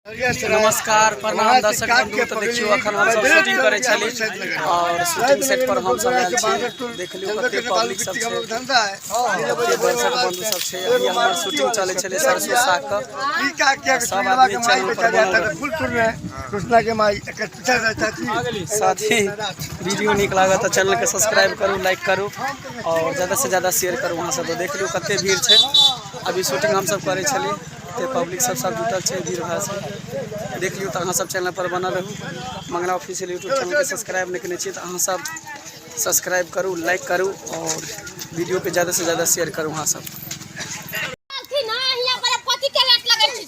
नमस्कार प्रणाम दर्शक बंधु तऽ देखियौ अखन हम सब शूटिंग करै छली और शूटिंग सेट पर हम सब आयल छी देख लियौ कते पब्लिक सब छै कते दर्शक बंधु सब छै अभी हमर शूटिंग चलै छलै सरसों साग के सब आदमी चैनल पर बनल रहै। कृष्णा के माई एकर पीछा से चाची साथ ही वीडियो नीक लागत तऽ चैनल के सब्सक्राइब करू लाइक करू और ज्यादा से ज्यादा शेयर करू अहाँ सब देख लियौ कते भीड़ छै अभी शूटिंग हम सब करै छलियै ते पब्लिक सब सब जुटल छै भीड़ भाड़ से देख लियौ तऽ अहाँ सब चैनल पर बनल रहू मंगला ऑफिशियल यूट्यूब चैनल के सब्सक्राइब नहि केने छी तऽ अहाँ सब सब्सक्राइब करू लाइक करू और वीडियो के ज्यादा से ज्यादा शेयर करू अहाँ सब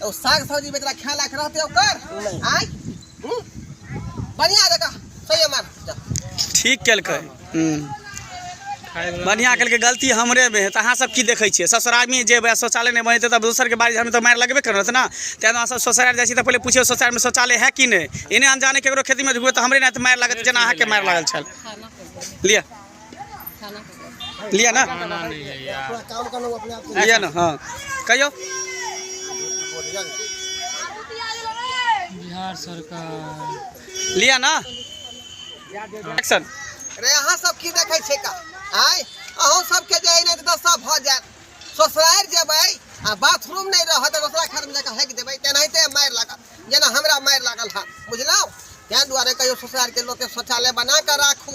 तो साग सब्जी बेचला खाए लायक रहते ओकर आय हम्म? बढ़िया जगह सही मार जा। ठीक केलकै हम्म। बढ़िया केलकै गलती हमरे में है तो अहाँ सब की देखै छियै ससुरालमे जेबै शौचालय नहि बनेतै तब दोसरके बारे हम तऽ मारि लगबे करत ने तैं अहाँ सब शौचालय जाइ छी तऽ पहिले पूछियौ शौचालयमे शौचालय है कि नहि एने अनजाने केकरो खेतीमे ढुकबै तऽ हमरे ने तऽ मारि लागत जेना अहाँके मारि लागल छल लिअ लिया ना लिया ना हाँ कहियो बिहार सरकार लिया ना एक्शन अरे अहाँ सब की देखै छै का आय अहूँ सबके जे एने तऽ सब भऽ जायत ससुरारि जेबै आ बाथरूम नहि रहत तऽ दोसरा घर में जाके हैक देबै तेनाहिते मारि लागत जेना हमरा मारि लागल है बुझलहुँ ताहि दुआरे कहियो ससुरारि के लोग के शौचालय बना कऽ राखू